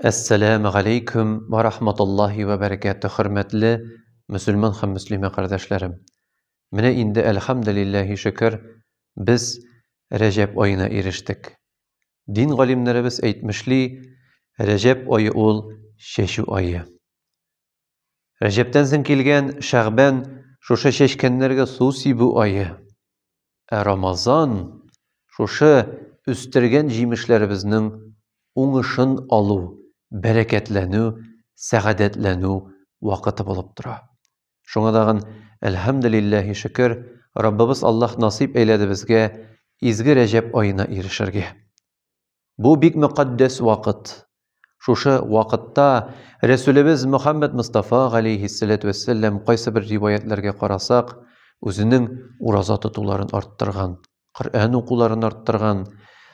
Әссәләмү галәйкүм вә рахматуллаһи вә бәрәкәтү, хөрмәтле мөселман һәм мөслимә кардәшләрем! Менә инде, әлхәмдүлилләһи шөкер, без Рәҗәб аена ирештек. Дин галимнәребез әйтмешли, Рәҗәб ае ул, чәчү ае. Рәҗәптән соң килгән Шәгъбән шушы чәчкәннәргә су сибү ае. Ә Рамазан шушы үстергән җимешләребезнең уңышын алу, бәрәкәтләнү, сәгадәтләнү вакыты булып тора. Шуңа тагын әлхәмдүлилләһи шөкер, Раббыбыз Аллаһ насыйп әйләде безгә изге Рәҗәп аена ирешергә. Бу бик мөкатдәс вакыт. Шушы вакытта Рәсүлебез Мөхәммәд Мустафа галәйһиссәләтү вәссәлам кайсы бер риваятьләргә карасак, үзенең ураза тотуларын арттырган, Коръән укуларын арттырган,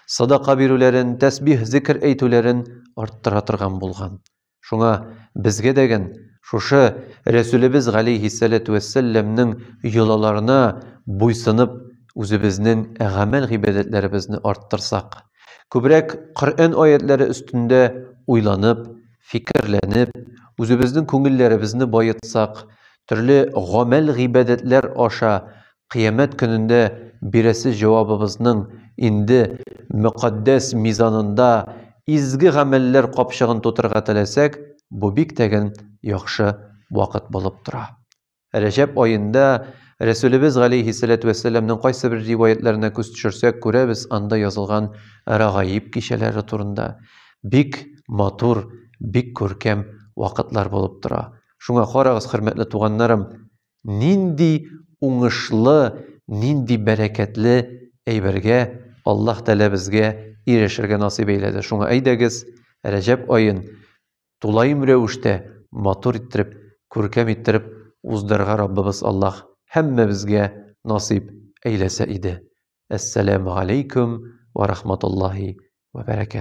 садака бирүләрен, тәсбих, зикр әйтүләрен арттыра торган булган. Шуңа безгә дәген шушы Рәсүлебез галәйһиссәләтү вәссәлләмнең йолаларына буйсынып, үзебезнең гамәл-гыйбадәтләребезне арттырсак, күбрәк Коръән аятьләре өстендә уйланып, фикерләнеп, үзебезнең күңелләребезне баетсак, төрле гамәл-гыйбадәтләр аша Кыямәт көнендә бирәсе җавабыбызның инде мөкатдәс мизанында изге гамәлләр капчыгын тутырырга теләсәк, бу бик тәген яхшы вакыт булып тора. Рәҗәб аенда, Рәсүлебез галәйһиссәләтү вәссәламнең кайсы бер риваятьләренә күз төшерсәк, күрәбез анда язылган Рагаиб кичәләре турында, бик матур, бик күркәм вакытлар булып тора. Шуңа карагыз, хөрмәтле туганнарым, Нинди уңышлы, нинди бәрәкәтле әйбергә Аллаһ Тәлә безгә ирешергә насыйп әйләде. Шуңа әйдәгез, Рәҗәп аен тулаем рәвештә матур иттереп, күркәм иттереп уздырырга Раббыбыз Аллаһ һәммәбезгә насыйп әйләсә иде. Әссәләмү алейкүм ва рахматуллаһи ва бәрәкәт.